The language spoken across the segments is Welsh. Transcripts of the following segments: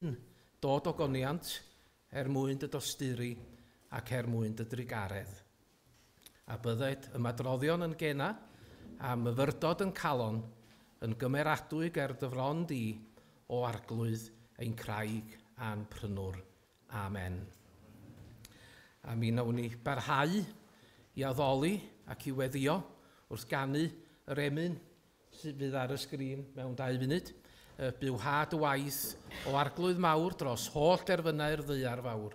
yn dod o goniant er mwyn dy dosturi ac er mwyn dy drugaredd. a bydded ymadroddion yn gena, a myfyrdod yn calon, yn gymeradwy ger dy fron di, O Arglwydd ein Craig a'n Prynwr. Amen. A mi nawn ni barhau i addoli ac i weddio wrth ganu yr emyn sydd fydd ar y sgrin mewn dau funud, y Byw Ha dy Waith, O Arglwydd Mawr dros holl derfynau'r ddaear fawr.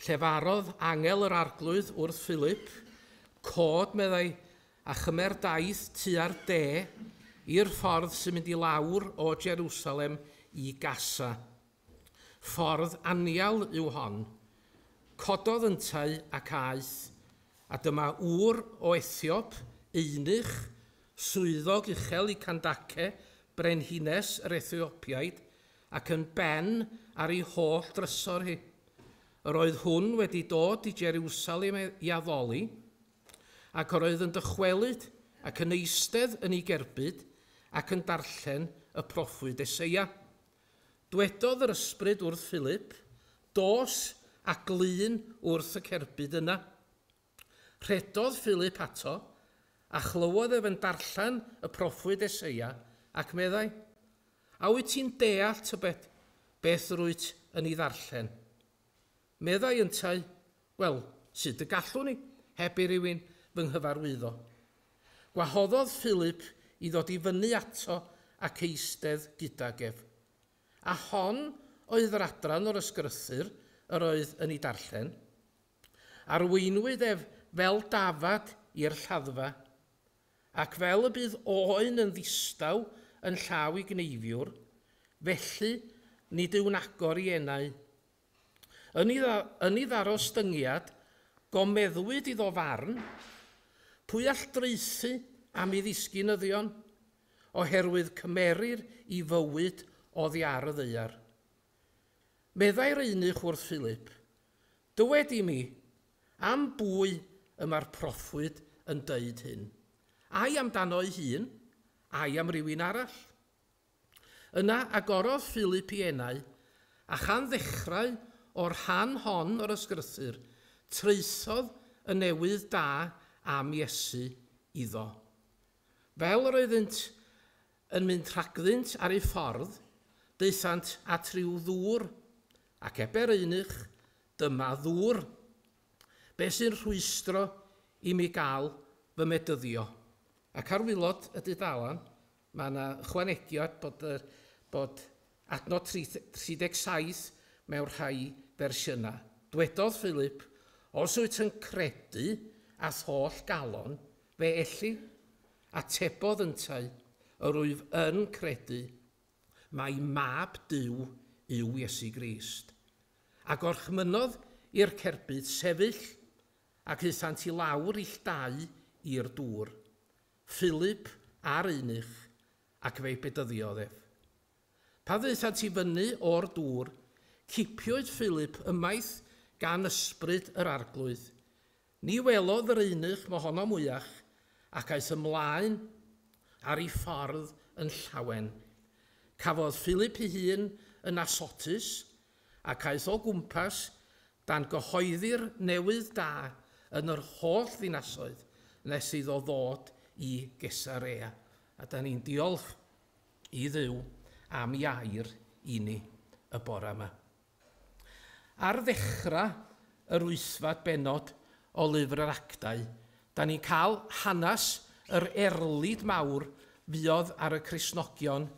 Llefarodd angel yr Arglwydd wrth Philip, Cod, meddai, a chymer daith tua'r de, i'r ffordd sy'n mynd i lawr o Jerusalem i Gasa. Ffordd anial yw hon. Cododd yntau ac aeth, a dyma ŵr o Ethiop, eunuch, swyddog uchel i Candace, brenhines yr Ethiopiaid, ac yn ben ar ei holl drysor hi. Yr oedd hwn wedi dod i Jerusalem i addoli, ac yr oedd yn dychwelyd ac yn eistedd yn ei gerbyd ac yn darllen y proffwyd Eseia. Dwedodd yr ysbryd wrth Philip, Dos a glun wrth y cerbyd yna. Rhedodd Philip ato, a chlywodd ef yn darllen y proffwyd Eseia, ac meddai, A wyt ti'n deall tybed beth yr wyt yn ei ddarllen? Meddai yntau, Wel, sut y gallwn i, heb i rywun fy nghyfarwyddo? Gwahoddodd Philip i ddod i fyny ato ac eistedd gydag ef. A hon oedd yr adran o'r Ysgrythur yr oedd yn ei darllen. Arweinwyd ef fel dafad i'r lladdfa, ac fel y bydd oen yn ddistaw yn llaw i gneifiwr, felly nid yw'n agor i enau. Yn ei, yn ei ddarostyngiad, gomeddwyd iddo farn, Pwy all draethu am i ddisgynyddion? oherwydd cymerir i fywyd oddi ar y ddaear. Meddai'r eunuch wrth Philip, Dywed i mi, am bwy y mae'r proffwyd yn dweud hyn? Ai amdano ei hun, ai am rywun arall? Yna agorodd Philip i enau, a chan ddechrau o'r rhan hon o'r ysgrythur, traethodd y newydd da am Iesu iddo. Fel yr oeddynt Yn mynd rhagddynt ar eu ffordd, daethant at ryw ddŵr, ac eber eunuch, Dyma ddŵr. Be sy'n rhwystro i mi gael fy medyddio? Ac ar waelod y dudalen, mae yna ychwanegiad bod y bod adnod 37 mewn rhai fersiynau. Dwedodd Philip, Os wyt yn credu a'th holl galon, Felly, atebodd yntau, yr wyf yn credu mai Mab Duw yw Iesu Grist. A gorchmynnodd i'r cerbyd sefyll, ac aethant i lawr ill dau i'r dŵr, Philip a'r eunuch, ac fe bedyddiodd ef. Pan ddaethant i fyny o'r dŵr, cipiwyd Philip ymaith gan ysbryd yr Arglwydd, Ni welodd yr eunuch mohono mwyach, ac aeth ymlaen ar ei ffordd yn llawen. Cafodd Philip ei hun yn Asotus, ac aeth o gwmpas dan gyhoeddi'r newydd da yn yr holl ddinasoedd, nes iddo ddod i Gesarea. A dan ni'n diolch i Dduw am ei air i ni y bore yma. Ar ddechrau yr wythfed bennod o Lyfr yr Actau, dan ni'n cael hanes yr erlid mawr fuodd ar y Cristnogion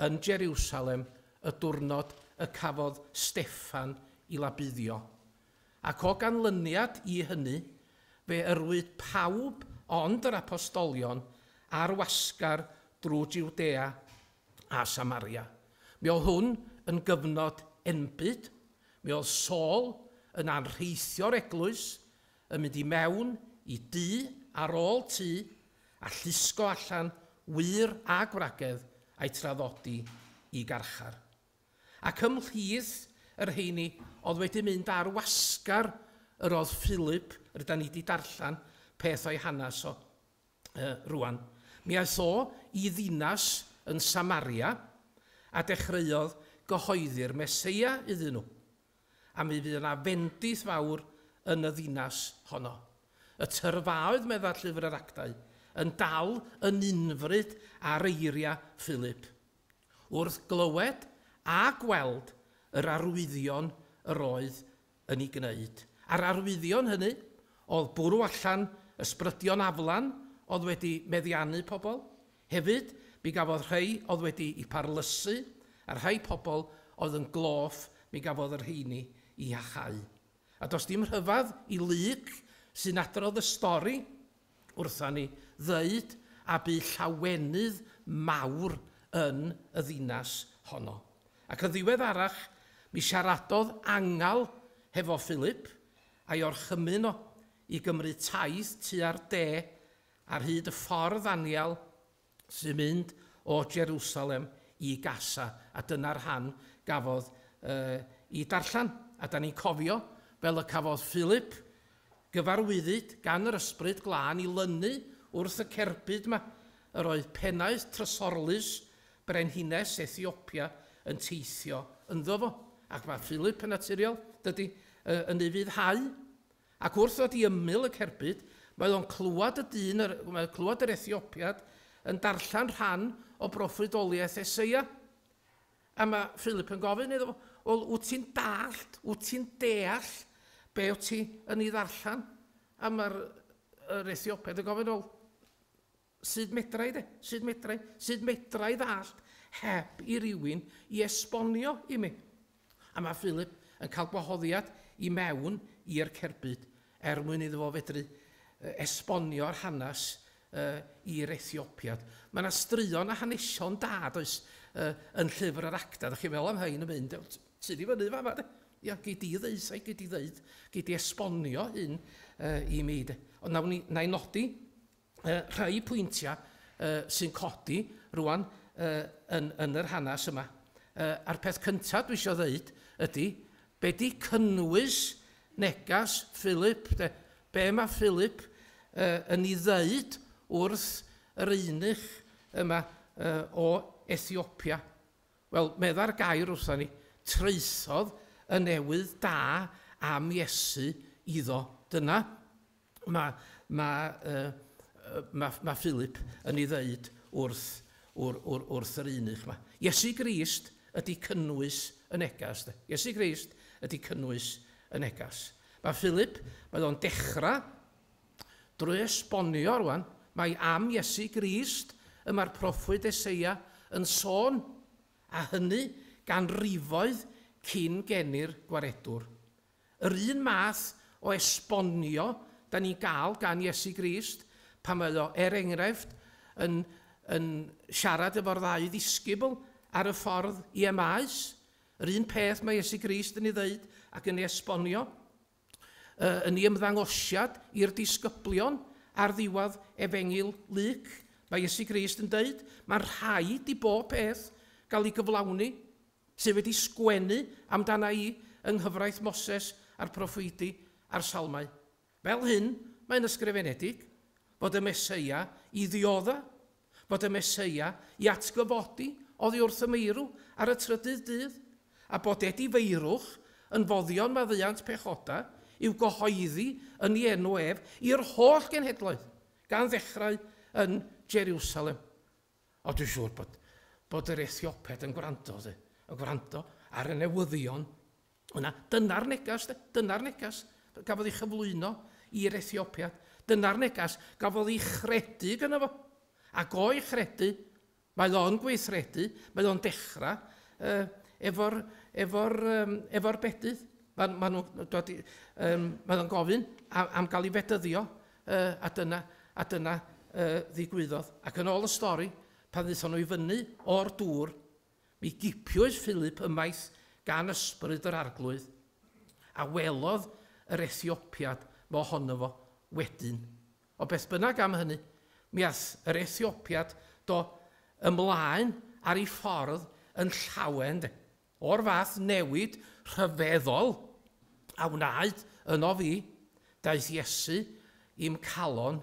yn Jeriwsalem y dwrnod y cafodd Steffan i labuddio. Ac o ganlyniad i hynny, fe yrwyd pawb ond yr Apostolion a'r wasgar drwy Jiwdea a Samaria. Mi oedd hwn yn gyfnod enbyd. Mi oedd Saul yn anrheithio'r eglwys, yn mynd i mewn i dŷ ar ôl tŷ a llusgo allan wŷr a gwragedd a'u traddodi i garchar. Ac ymhlith y rheini oedd wedi mynd ar wasgar yr oedd Philip, rydan ni 'di darllen peth o'i hanes o. Yy, rŵan, mi aeth o i ddinas yn Samaria, a dechreuodd gyhoeddi'r Meseia iddyn nhw. A mi fydd yna fendith fawr yn y ddinas honno. Y tyrfaoedd, medda Llyfr yr Actau, yn dal yn unfryd ar eiriau Philip, wrth glywed a gweld yr arwyddion yr oedd yn ei gwneud. A'r arwyddion hynny oedd bwrw allan ysbrydion aflan oedd wedi meddiannu pobl. Hefyd, mi gafodd rhai oedd wedi'u parlysu, a rhai pobl oedd yn gloff, mi gafodd y rheini i hachau. A does dim rhyfedd i Luke, sy'n adrodd y stori, wrtha ni ddeud a bu llawenydd mawr yn y ddinas honno. Ac yn ddiweddarach mi siaradodd Angal hefo Philip, a'i orchymyn o i gymryd taith tua'r de ar hyd y ffordd anial sy'n mynd o Jerusalem i Gaza, a dyna'r rhan gafodd uh, i darllen. A da ni'n cofio, fel y cafodd Philip, gyfarwyddyd gan yr ysbryd glân i lynu wrth y cerbyd yma, yr oedd pennaeth trysorlus brenhines Ethiopia yn teithio ynddo fo. Ac mae Philip yn naturiol, dydy, yn ei fyddhau. Ac wrth ddod i ymyl y cerbyd, mae o'n clywed y dyn yr, mae o'n clywed yr Ethiopiad yn darllen rhan o broffwydoliaeth Eseia. A mae Philip yn gofyn iddo fo, wel, wyt ti'n dallt, wyt ti'n deall be wyt ti yn ei ddarllen? A mae'r yr Ethiopiad yn gofyn, wel, Sut medrai de? Sut medrai? Sut medrai ddallt heb i rywun i esbonio i mi? A mae Philip yn cael gwahoddiad i mewn i'r cerbyd er mwyn iddo fo fedru esbonio'r hanes i'r Ethiopia. Mae yna straeon a hanesion da, does, yn Llyfr yr Actau. Dach chi'n meddwl am rhain yn mynd, tu di fyny fama de. Ia, gei di ddeud, sai, gei di ddeud, gei di esbonio hyn i mi de. Ond nawn ni, na i nodi, yy rhai pwyntia yy sy'n codi rwan yy yn yn yr hanes yma. Yy a'r peth cynta dwi isio ddeud ydy be' 'di cynnwys negas Philip de? Be' ma' Philip yy yn 'i ddeud wrth yr eunuch yma yy o Ethiopia? Wel, medda'r gair wrthon ni, traethodd y newydd da am Iesu iddo. Dyna. Mae, mae, yy, mae, mae Philip yn ei ddeud wrth, wr, wr, wrth yr eunuch yma. Iesu Grist ydy cynnwys y neges, de. Iesu Grist ydy cynnwys y neges. Mae Philip, mae o'n dechrau drwy esbonio rwan, mae am Iesu Grist y mae'r proffwyd Eseia yn sôn, a hynny ganrifoedd cyn geni'r Gwaredwr. Yr un math o esbonio dan ni'n gael gan Iesu Grist pan mae o, er enghraifft, yn, yn siarad efo'r ddau ddisgybl ar y ffordd i Emmaus. Yr un peth mae Iesu Grist yn ei ddeud ac yn ei esbonio yy yn ei ymddangosiad i'r disgyblion ar ddiwedd Efengyl Luc. Mae Iesu Grist yn deud, mae'n rhaid i bob peth gael ei gyflawni. sydd wedi sgwennu amdana i yng nghyfraith Moses a'r proffwydi a'r Salmau. Fel hyn mae'n ysgrifenedig, Bod y Meseia i ddiodda', bod y Meseia i atgyfodi oddi wrth y meirw ar y trydydd dydd, a bod edifeirwch yn foddion maddiant pechoda i'w gyhoeddi yn ei enw ef i'r holl genhedloedd, gan ddechrau yn Jeriwsalem. Ond dwi'n siŵr bod, bod yr Ethioped yn gwrando, de, yn gwrando ar y newyddion yna. Dyna'r negas, de, dyna'r negas gafodd ei chyflwyno i'r Ethiopiad. Dyna'r negas gafodd ei chredu gyda fo. Ac o'i chredu, mae o'n gweithredu, mae o'n dechrau uh, efo'r efo um, efo bedydd. Mae ma nhw'n um, mae gofyn am, am gael ei fedyddio Yy, a dyna, a dyna yy ddigwyddodd. Ac yn ôl y stori, pan ddaethon nhw i fyny o'r dŵr, mi gipiwyd Philip ymaith gan ysbryd yr Arglwydd, a welodd yr Ethiopiad mo hono fo wedyn. Ond beth bynnag am hynny, mi ath yr Ethiopiad do ymlaen ar ei ffordd yn llawen de. O'r fath newid rhyfeddol a wnaed ynof fi, daeth Iesu i'm calon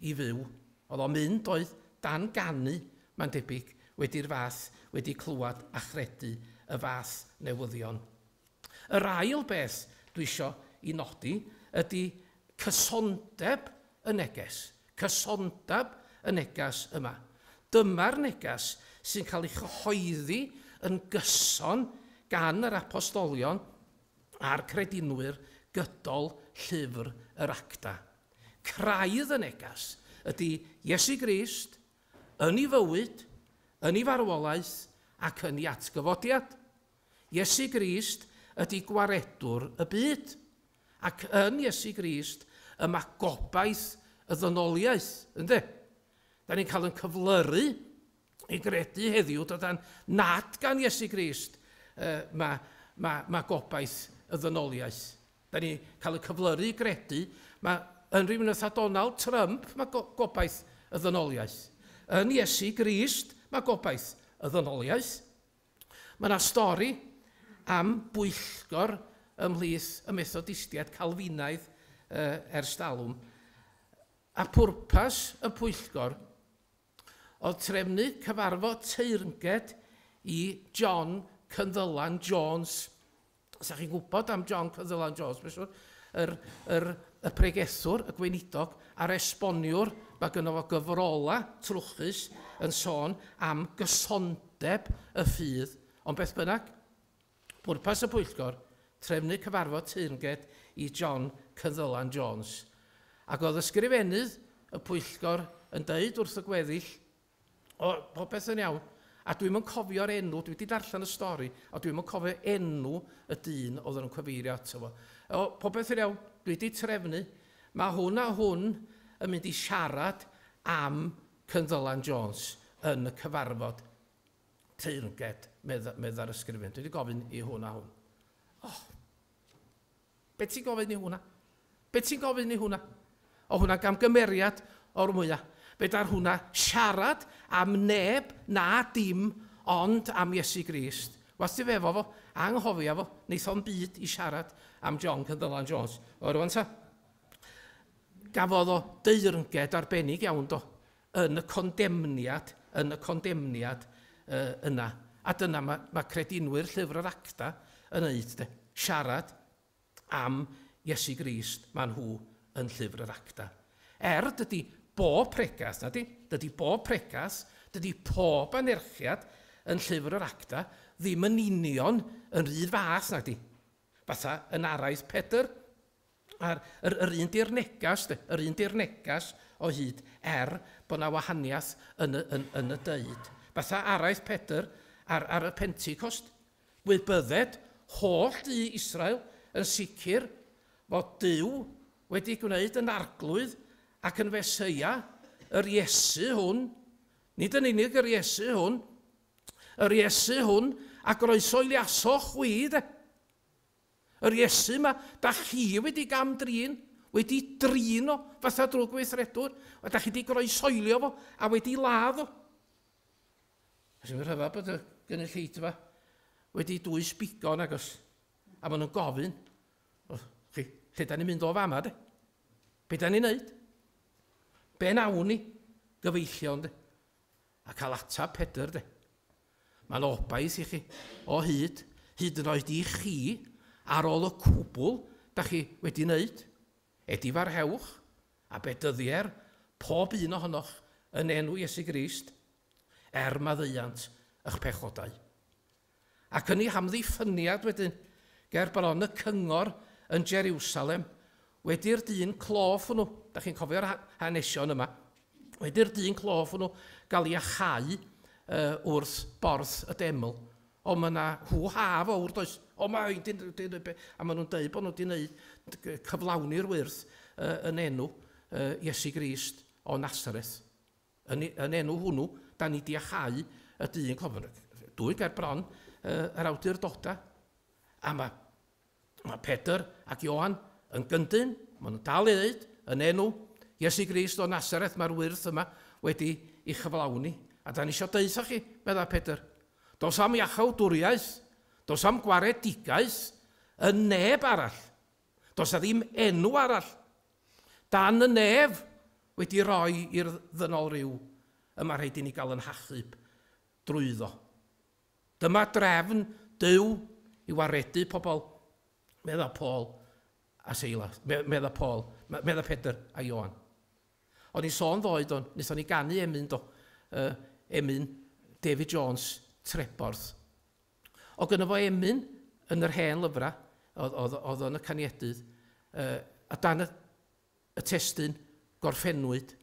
i fyw. Oedd o'n mynd oedd dan ganu, mae'n debyg, wedi'r fath, wedi clywed a chredu y fath newyddion. Yr ail beth dwi isio i nodi ydy cysondeb y neges, cysondeb y neges yma. Dyma'r neges sy'n cael ei chyhoeddi yn gyson gan yr apostolion a'r credinwyr gydol llyfr yr Actau. Craidd y neges ydy Iesu Grist yn ei fywyd, yn ei farwolaeth ac yn ei atgyfodiad. Iesu Grist ydy gwaredwr y byd. Ac yn Iesu Grist y mae gobaith y ddynoliaeth, ynde? Da ni'n cael yn cyflyru i gredu heddiw, dydan, nad gan Iesu Grist uh, mae, mae, mae gobaith y ddynoliaeth. Da ni'n cael yn cyflyru i gredu, mae yn rhywun oedd Donald Trump, mae go gobaith y ddynoliaeth. Yn Iesu Grist, mae gobaith y ddynoliaeth. Mae yna stori am bwyllgor ymhlith y Methodistiaid Calfinaidd ers talwm, a phwrpas y pwyllgor oedd trefnu cyfarfod teyrnged i John Cynddylan Jones, 'Sa chi'n gwybod am John Caerdylan Jones, mae'n siŵr, yr, yr, y pregethwr, y gweinidog, a'r esboniwr, mae gynno fo gyfrolau trwchus yn sôn am gysondeb y ffydd. Ond beth bynnag, pwrpas y pwyllgor, trefnu cyfarfod teyrnged i John Caerdylan Jones. Ac oedd ysgrifennydd y pwyllgor yn dweud wrth y gweddill O, popeth yn iawn. A dwi'm yn cofio'r enw, dwi wedi darllen y stori, ond dwi'm yn cofio enw y dyn oedd yn cyfeirio ato fo. O, popeth yn iawn, dwi wedi trefnu. Mae hwn a hwn yn mynd i siarad am Cynddylan Jones yn y cyfarfod teyrnged, medda'r ysgrifennydd. Dwi wedi gofyn i hwn a hwn. O! Be ti'n gofyn i hwnna? Be ti'n gofyn i hwnna? O hwnna gamgymeriad o'r mwya. Fedar hwnna siarad am neb na dim ond am Iesu Grist. Was ti efo fo, anghofia fo, neith o'n byd i siarad am John Cyndylan Jones. O rwan ta? Gafodd o deyrnged arbennig iawn do. yn y condemniad, yn y condemniad yy yna. A dyna mae ma' credinwyr Llyfr yr Acta yn wneud de, siarad am Iesu Grist, maen nhw yn Llyfr yr Acta. Er, dydy bob pregast, na di, dydy bob pregast, dydy pob anerchiad yn Llyfr yr Acta ddim yn union yn rhydd fath, na di. Fatha yn araith Pedr, A'r yr yr un di'r negas de, yr un di'r negas o hyd, er bod na wahaniath yn y yn yn y deud. Fatha araith Pedr ar ar y Pentecost, gwybydded holl du Israel yn sicr fod Duw wedi gwneud yn Arglwydd ac yn Feseia, yr Iesu hwn, nid yn unig yr Iesu hwn, yr Iesu hwn a groesoeliasoch chwi de. Yr Iesu 'ma 'da chi wedi gam-drin, wedi drin o fatha drwg weithredwr, a 'da chi 'di groesoelio fo a wedi ladd o. A sy'n rhyfedd bod y gynulleidfa wedi dwys bigo agos, a maen nhw'n gofyn, o, chi, lle da ni'n mynd o fama, de? Be da ni'n neud? Be nawn ni? Gyfeillion, de? A cael atab Pedr, de? Mae'n obaith i chi, o hyd, hyd yn oed i chi, ar ôl y cwbl da chi wedi wneud. Edifarhewch, a bedyddier, pob un ohonoch, yn enw Iesu Grist, er maddeuant ych pechodau. Ac yn ei hamddiffyniad wedyn, ger bron y cyngor yn Jeriwsalem, Wedi'r dyn clof hwnnw, da chi'n cofio'r hanesion yma, wedi'r dyn clof hwnnw gael ei achau uh, wrth borth y deml, o mae yna hw-ha fawr does, o mae hyn, dyn, dyn, dyn, dyn, a maen nhw'n dweud bod nhw wedi gwneud cyflawni'r wyrth uh, yn enw uh, Iesu Grist o Nazareth. Yn, yn enw hwnnw, da ni di achau y dyn clof. Dwy gair bron uh, yr awdurdodau. A mae Mae Pedr ac Ioan yn gyndyn, maen nhw'n dal i ddeud, yn enw Iesu Grist o Nasareth mae'r wyrth yma wedi ei chyflawni, a da ni eisiau deutha chi, meddai Pedr. Does am iachawdwriaeth, does am gwaredigaeth yn neb arall. Does a ddim enw arall dan y nef wedi roi i'r ddynol ryw y mae rhaid i ni gael yn hachub drwyddo. Dyma drefn Duw i waredu pobl, meddai Paul a Silas, meddai Paul, meddai Pedr a Ioan. O'n i'n sôn ddoe, do, wnaethon ni ganu emyn, do, uh, emyn David Jones, Treborth. O gyda fo emyn yn yr hen lyfrau, oedd o'n y caniedydd, uh, a dan y, y testyn gorffennwyd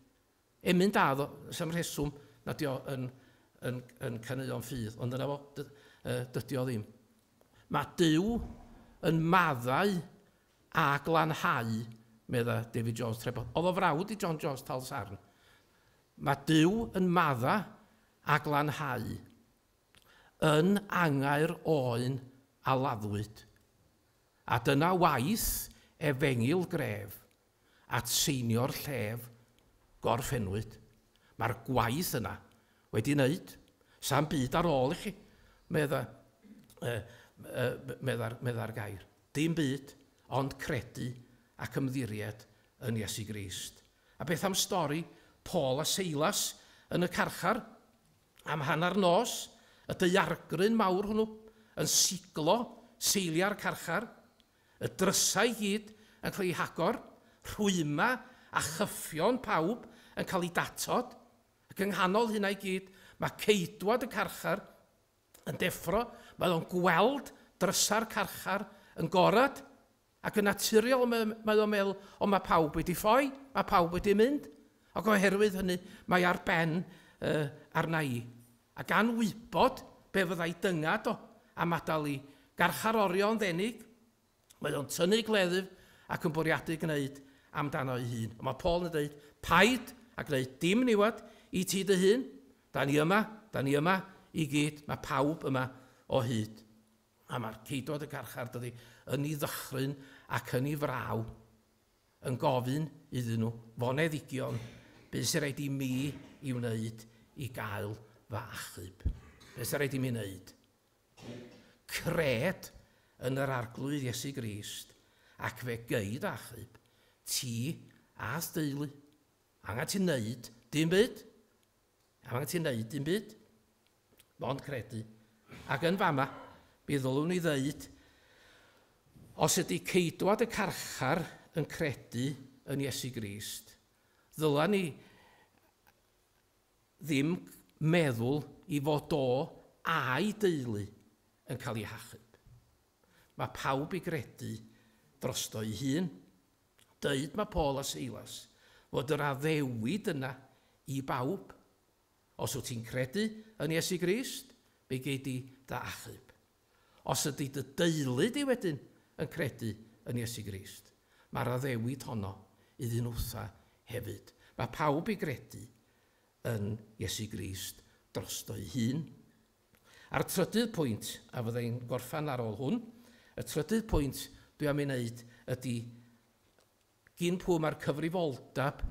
Emyn da oedd o, sa'm rheswm nad yw o yn, yn, yn caneuon ffydd, ond dyna fo, dy, uh, dydy o ddim. Mae Duw yn maddau a glanhau, medda David Jones Treboth. Oedd o frawd i John Jones Tal Sarn. Mae Duw yn madda a glanhau, yn angair oen a laddwyd. A dyna waith efengil gref, at seinio'r llef gorffennwyd. Mae'r gwaith yna wedi wneud. Sa'm byd ar ôl i chi, medda, uh, uh, medda'r, medda'r gair. Dim byd, ond credu ac ymddiried yn Iesu Grist. A beth am stori Paul a Seilas yn y carchar? Am hanner nos, y deiargryn mawr hwnnw, yn siglo seiliau'r carchar, Y drysau i gyd yn cael eu hagor, rhwyma a chyffion pawb yn cael eu datod, ac yng nghanol hynna i gyd, mae ceidwad y carchar yn deffro, mae o'n gweld drysau'r carchar yn gorad, ac yn naturiol mae, mae o'n meddwl, o mae pawb wedi ffoi, mae pawb wedi mynd, ac oherwydd hynny mae ar ben uh, arna i. A gan wybod be fyddai dyngad o, am adael i garchar orio yn ddenig, mae o'n tynnu gleddyf ac yn bwriadu gwneud amdano ei hun. Ond mae Paul yn dweud, Paid a gwneud dim niwed i ti dy hun. Da ni yma, da ni yma i gyd, mae pawb yma o hyd. A mae'r ceidwad y garchar, dydy, yn ei ddychryn ac yn ei fraw. yn gofyn iddyn nhw foneddigion be' sy raid i mi 'i wneud i gael fy achub. Be' sy raid i mi wneud? Cred yn yr Arglwydd Iesu Grist ac fe gei dy achub, ti a'th deulu. Angen ti 'neud dim byd. Am angen ti wneud dim byd. Mond credu. Ac yn fama, mi ddylwn ni ddeud, os ydy ceidwad y carchar yn credu yn Iesu Grist, ddyla ni ddim meddwl i fod o a'i deulu yn cael ei hachub. Mae pawb i gredu drosto ei hun. Deud mae Paul a Silas fod yr addewid yna i bawb. Os wyt ti'n credu yn Iesu Grist, mi gei di dy achub. Os ydy dy deulu di wedyn yn credu yn Iesu Grist, mae'r addewid honno iddyn nhwtha hefyd. Mae pawb i gredu yn Iesu Grist drosto ei hun, A'r trydydd pwynt, a fydda i'n gorffen ar ôl hwn, y trydydd pwynt dwi am ei wneud ydy gin pwy mae'r cyfrifoldeb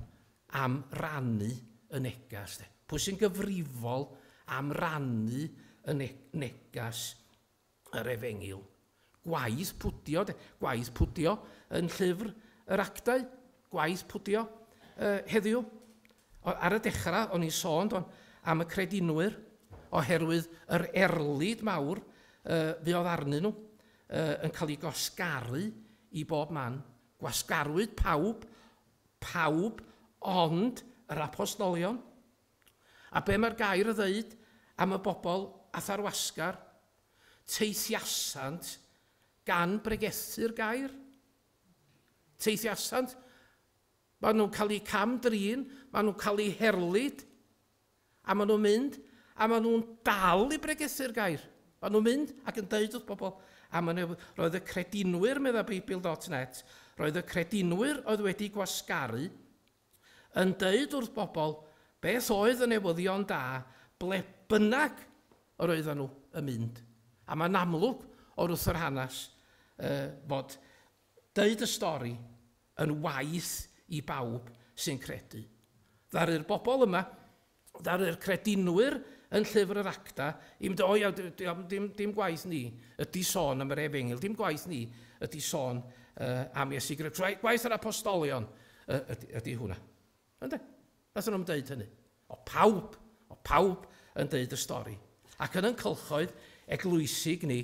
am rannu y neges de? Pwy sy'n gyfrifol am rannu y ne neges yr efengyl Gwaith pwdio de, gwaith pwdio yn llyfr yr actau, gwaith pwdio yy heddiw. Ar y dechrau o'n i'n sôn do'n am y credinwyr oherwydd yr erlid mawr yy fuodd arnyn nhw yy yn cael ei gwasgaru i bob man. Gwasgarwyd pawb, pawb ond yr Apostolion. A be mae'r gair a ddeud am y bobl a tharwasgar, teithiasant gan bregethu'r gair? Teithiasant, maen nhw'n cael eu cam-drin, maen nhw'n cael eu herlid, a maen nhw'n mynd, a maen nhw'n dal i bregethu'r gair. Maen nhw'n mynd ac yn deud wrth bobl, a maen nhw, roedd y credinwyr, meddai Beibl.net, roedd y credinwyr oedd wedi gwasgaru yn deud wrth bobl beth oedd y newyddion da ble bynnag yr oedden nhw yn mynd. A mae'n amlwg o wrth yr hanes fod deud y stori yn waeth i bawb sy'n credu. Ddaru'r bobl yma ddaru'r credinwyr yn Llyfr yr Acta, i'm doi, a dim, dim, dim gwaith ni ydy sôn am yr efengyl, dim gwaith ni ydy sôn uh, am Iesu Greg. Gwaith yr apostolion uh, ydy, ydy hwnna. Ynde? Nath nhw'n dweud hynny. O pawb, o pawb yn dweud y stori. Ac yn yn cylchoedd eglwysig ni,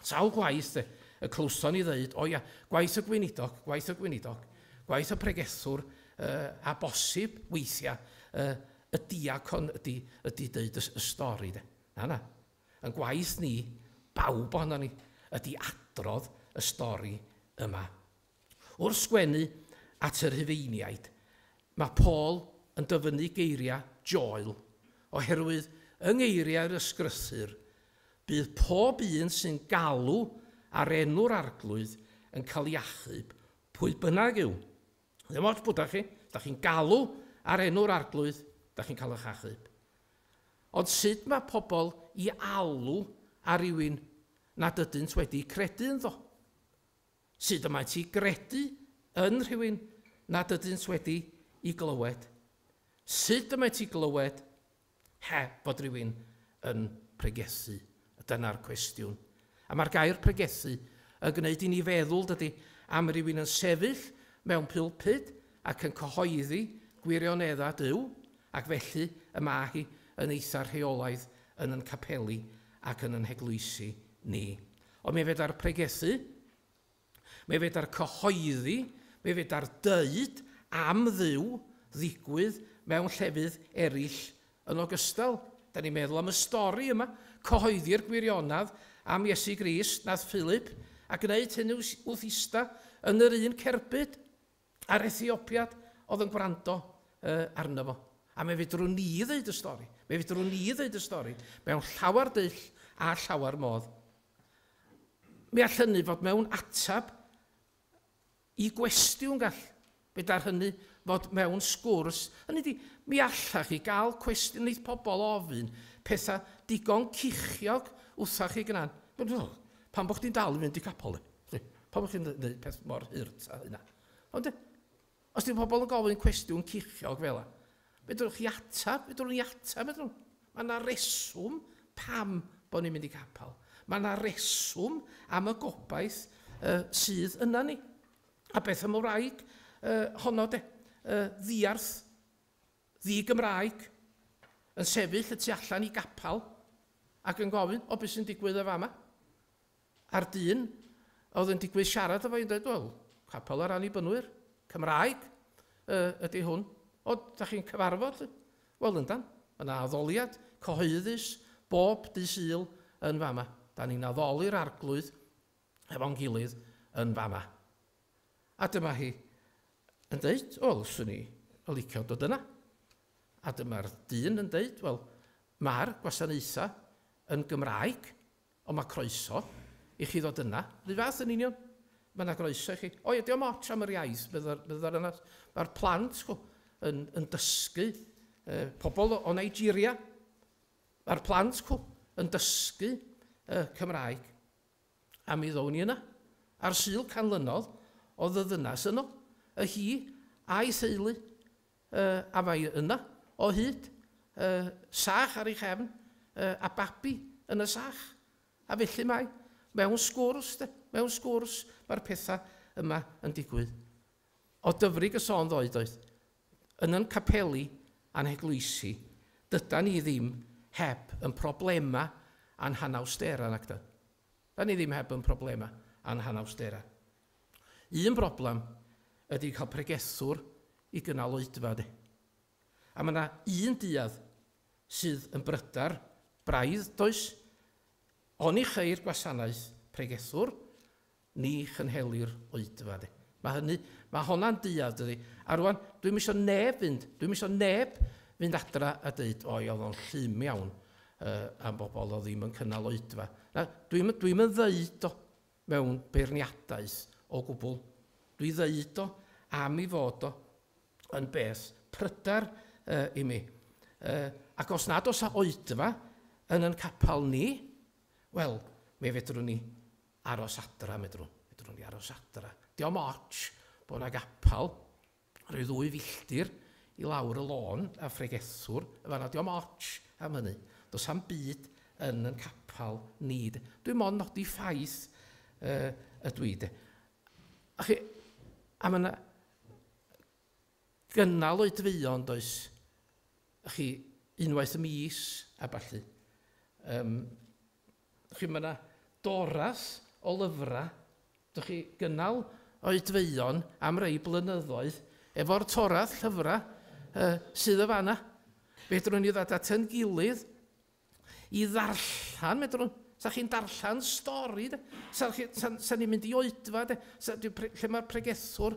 Sawl gwaith, de, y clywson ni ddeud, o ia, gwaith y gweinidog, gwaith y gweinidog, gwaith y pregethwr, uh, a bosib weithiau uh, y diacon ydy, ydy deud y, y stori, de. Na, na. Yn gwaith ni, bawb ohono ni, ydy adrodd y stori yma Wrth sgwennu at y Rhufeiniaid, mae Paul yn dyfynnu geiriau Joel, oherwydd yng ngeiriau'r Ysgrythur, bydd pob un sy'n galw ar enw'r Arglwydd yn cael ei achub, pwy bynnag yw. Ddim ots pwy da chi, os da chi'n galw ar enw'r Arglwydd, da chi'n cael eich achub. Ond sut mae pobl i alw ar rywun nad ydynt wedi credu ynddo? Sut y mae ti gredu yn rhywun nad ydynt wedi i glywed? Sut y mae ti glywed heb fod rhywun yn pregethu? Dyna'r cwestiwn. A mae'r gair pregethu yn gwneud i ni feddwl, dydy, am rywun yn sefyll mewn pulpud ac yn cyhoeddi gwirioneddau Duw, ac felly y mae hi yn eitha rheolaidd yn yn capeli ac yn yn heglwysi ni. Ond mae feda'r pregethu, mae feda'r cyhoeddi, mae feda'r deud am Dduw ddigwydd mewn llefydd eraill yn ogystal. Da ni'n meddwl am y stori yma, cyhoeddi'r gwirionedd am Iesu Grist, nath Philip, a gwneud hynny wth ista yn yr un cerbyd. a'r Ethiopïad oedd yn gwrando arno fo. A me fedrwn ni ddeud y stori, me fedrwn ni ddeud y stori mewn llawer dull a llawer modd. Mi all hynny fod mewn atab i gwestiwn gall. Fe dar hynny fod mewn sgwrs. Hynny di, mi allach chi gael cwestiwn neith pobl ofyn pethau digon cichiog wrthach chi gnan. Pam bod chdi'n dal i fynd i capel? Pam bod chdi'n gwneud peth mor hurt a hynna? Ond, os di pobl yn gofyn cwestiwn cichiog fel yna, fedrwch chi atab, fedrwch ni atab, fedrwch. Mae yna reswm pam bod ni'n mynd i capel. Mae yna reswm am y gobaith uh, sydd yna ni. A beth am y wraig uh, honno de, uh, ddiarth ddi-Gymraeg yn sefyll y tu allan i gapel ac yn gofyn, 'O, be' sy'n digwydd yn fama? A'r dyn a oedd yn digwydd siarad efo i'n dweud, 'Wel, capel yr Annibynwyr, Cymraeg yy ydi hwn. O, da chi'n cyfarfod? Wel, yndan, mae yna addoliad cyhoeddus bob dydd Sul yn fama. Da ni'n addoli'r Arglwydd hefo'n gilydd yn fama. A dyma hi yn deud, wel, swn i yn licio dod yna. A dyma'r dyn yn deud, wel, mae'r gwasanaethau yn Gymraeg, ond mae croeso i chi ddod yna. Rhyw fath yn union. Mae yna groeso i chi. O ia, diolch moch am yr iaith, meddai'r yna. Mae'r plant chw, yn, yn dysgu e, pobl o, o Nigeria. Mae'r plant chw, yn dysgu e, Cymraeg. A mi ddown ni yna, ar Sul canlynodd o ddyddynas yno, y hi a'i theulu, yy, a mae yna, o hyd, yy, sach ar ei chefn, yy, a babi yn y sach. A felly mae, mewn sgwrs, 'de, mewn sgwrs, mae'r pethau yma yn digwydd. O Dyfrig y sôn ddoe doedd? Yn yn capeli a'n heglwysi dydan ni ddim heb yn problema a'n hanawstera, nacdan? Dan ni ddim heb yn problema a'n hanawstera. Un broblam ydi cael pregethwr i gynnal oedfa, de. A mae 'na un duedd sydd yn brydar braidd, does? Oni cheir gwasanaeth pregethwr Ni chynhelir oedfa, de. Mae hynny, mae honna'n duedd, dydi? A rwan, dwi'm isio neb fynd, dwi'm isio neb fynd adra a dweud, oi, oedd o'n llym iawn uh, am bobl oedd ddim yn cynnal oedfa. Na, dwi'm dwi yn ddeud o mewn beirniadaeth o gwbl. Dwi ddeud o am i fod o yn beth pryder uh, i mi. Uh, ac os nad os a oedfa yn yn capel ni, wel, mi fedrwn ni Aros adra, medrwn. Medrwn i aros adra. Diom otsh bo' 'na gapal ryw ddwy filltir i lawr y lôn a phregethwr yn fan'na. Diom otsh am hynny. Do's 'am byd yn 'yn capal ni de. Dwi mond nodi ffaith yy ydw i de. A chi, a ma' 'na gynnal oedfeuon does? A chi, unwaith y mis a ballu. Yym. Dych chi, mae yna doras o lyfrau, dych chi, gynnal oedfeuon am rei blynyddoedd efo'r torath llyfrau uh, sydd y fanna. Fedrwn ni ddod at yn gilydd i ddarllen, medrwn, sa chi'n darllen stori, de? sa, chi, sa, sa ni'n mynd i oedfa, de? Sa, lle mae'r pregethwr,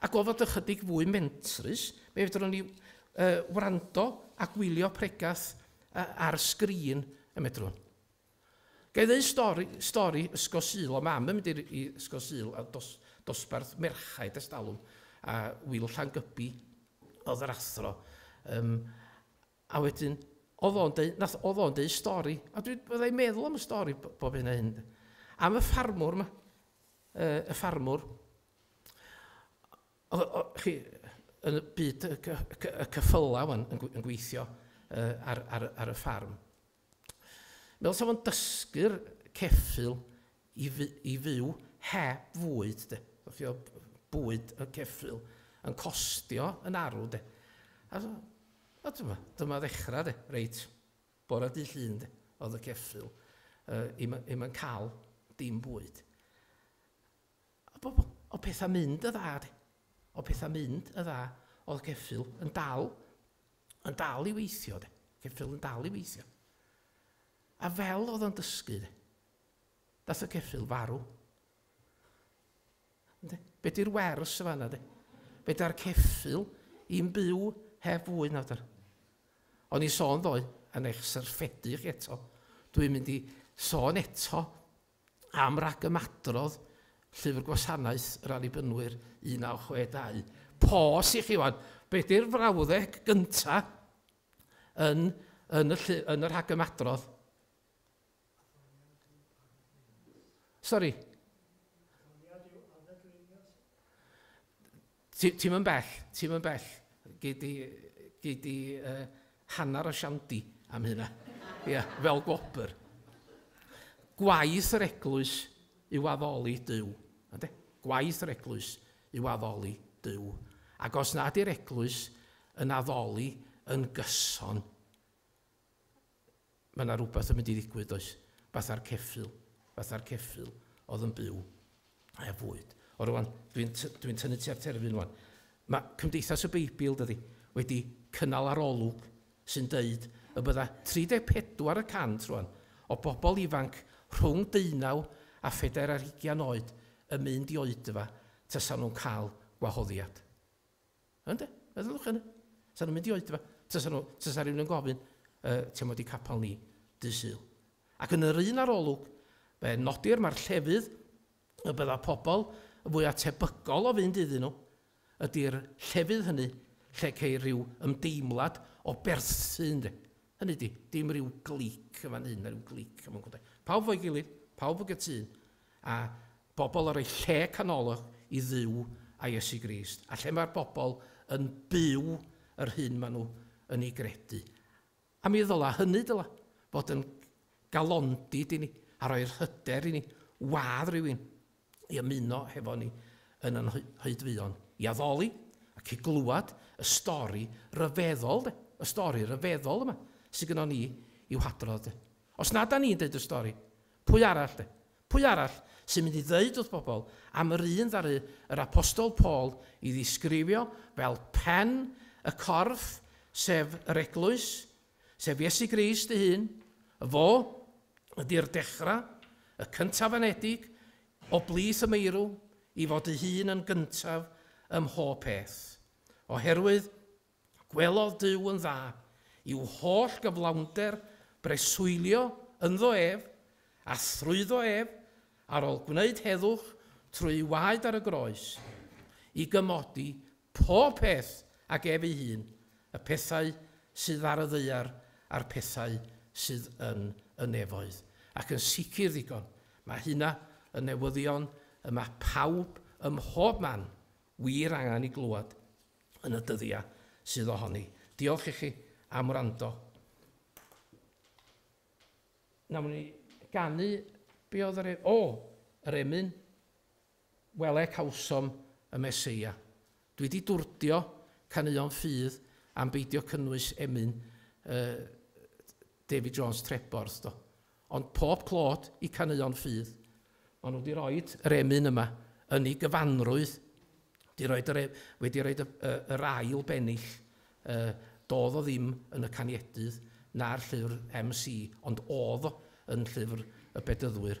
Ac o fod ychydig fwy mentrus, fe fedrwn ni wrando a gwylio pregath ar sgrin, y medrwn. Ga i ddeu stori, stori Ysgol Sul, o mam yn mynd i Ysgol Sul a dos, dosbarth merchaid ers talwm, a Wil Llangybi oedd yr athro. Um, a wedyn, oedd o'n deu, nath, oedd o'n deu stori, a dwi byddai meddwl am y stori bob hyn a hyn. Am y ffarmwr yma, uh, y ffarmwr, Oedd, o, chi, yn y byd y, y, y, y cyffylau yn, yn gweithio uh, ar, ar, ar y ffarm. Meddwl sef o'n dysgu'r ceffil i, fy, i fyw heb fwyd, de. Fio bwyd y ceffil yn costio yn arw, de. A, a dyma, dyma ddechrau, de, reit, bore dy llun, de, oedd y ceffil, uh, im, im yn cael dim bwyd. O, o pethau mynd y dda de. O pethau mynd y dda. Oedd ceffil yn dal, yn dal i weithio de. Ceffil yn dal i weithio. A fel oedd o'n dysgu de. Dath y ceffil farw. Ynde? Be di'r wers y fanna de? Be da'r ceffil i'n byw heb fwy na dyr. O'n i sôn ddoe, yn eich syrffedu chi eto, dwi'n mynd i sôn eto Am ragymadrodd Llyfr Gwasanaeth yr Annibynwyr 1962. Pos i chi wan. Be di'r frawddeg gynta yn, yn, y, llu, yn y rhagymadrodd? Sori. Ti, ti'm yn bell, ti'm yn bell. Gei di, gei di uh, hanner o siandi am hynna. Ia, yeah, fel gwobr. Gwaith yr eglwys yw addoli Dyw. Ande? Gwaith yr eglwys yw addoli Dyw. Ac os nad i'r eglwys yn addoli yn gyson, Mae 'na rywbeth yn mynd i ddigwydd does? Fatha'r ceffyl, fatha'r ceffyl oedd yn byw heb fwyd. O rwan, dwi'n dwi tynnu tua'r terfyn rwan. Mae Cymdeithas y Beibl, dydy, wedi cynnal arolwg sy'n deud y bydda 34 y cant rwan o bobl ifanc rhwng deunaw a phedair ar hugian oed yn mynd i oedfa tasan nhw'n cael gwahoddiad. Ynde? Meddyliwch hynny. Sa'n nhw'n mynd i oedfa. Tasa, nhw, tasa rhywun yn gofyn, uh, ti'n modd i capel ni, dy syl. Ac yn yr un arolwg, fe nodir mae'r llefydd y bydda pobl y fwy atebygol o fynd iddyn nhw, ydy'r llefydd hynny lle ceir rhyw ymdeimlad o berthu, ynde? Hynny di, dim rhyw glic yn fan hyn a rhyw glic yn fan hyn. Pawb fo'i gilydd, pawb yn gytun, a Bobl ar eu lle canolog i Dduw a Iesu Grist, a lle mae'r bobl yn byw yr hyn maen nhw yn ei gredu. A mi ddyla, hynny dyla, fod yn galondid i ni, a rhoi'r hyder i ni wadd rhywun i ymuno hefo ni yn yn hoedfeuon, i addoli ac i glywed y stori ryfeddol, de, y stori ryfeddol yma sydd gynnon ni i'w hadrodd. De. Os na da ni'n deud y stori, pwy arall, de? Pwy arall sy'n mynd i ddeud wrth bobl am yr un ddaru yr Apostol Paul i ddisgrifio fel pen y corff, sef yr Eglwys, sef Iesu Grist ei hun, Fo ydy'r dechrau, y cyntaf anedig, o blith y meirw, i fod ei hun yn gyntaf ym mhob peth. Oherwydd Gwelodd Duw yn dda i'w holl gyflawnder breswylio ynddo ef, a thrwyddo ef, ar ol gwneud heddwch trwy'i waed ar y groes, i gymodi pob peth ag ef ei hun, y pethau sydd ar y ddaear a'r pethau sydd yn y nefoedd. Ac yn sicr ddigon, mae hynna yn newyddion y mae pawb ym mhob man wir angen i glywed yn y dyddia sydd ohoni. Diolch ichi am wrando. Nawn ni ganu, be oedd yr e... O! Yr emyn, wele cawsom y Meseia. Dwi 'di dwrdio caneuon ffydd am beidio cynnwys emyn yy David Jones Treborth do. Ond pob clod i caneuon ffydd. Maen nhw wedi rhoi yr emyn yma yn ei gyfanrwydd. Wedi rhoi yr, e, wedi rhoi y, y, yr ail bennill. E, doedd o ddim yn y caniedydd na'r llyfr MC, ond oedd o yn llyfr y bedyddwyr.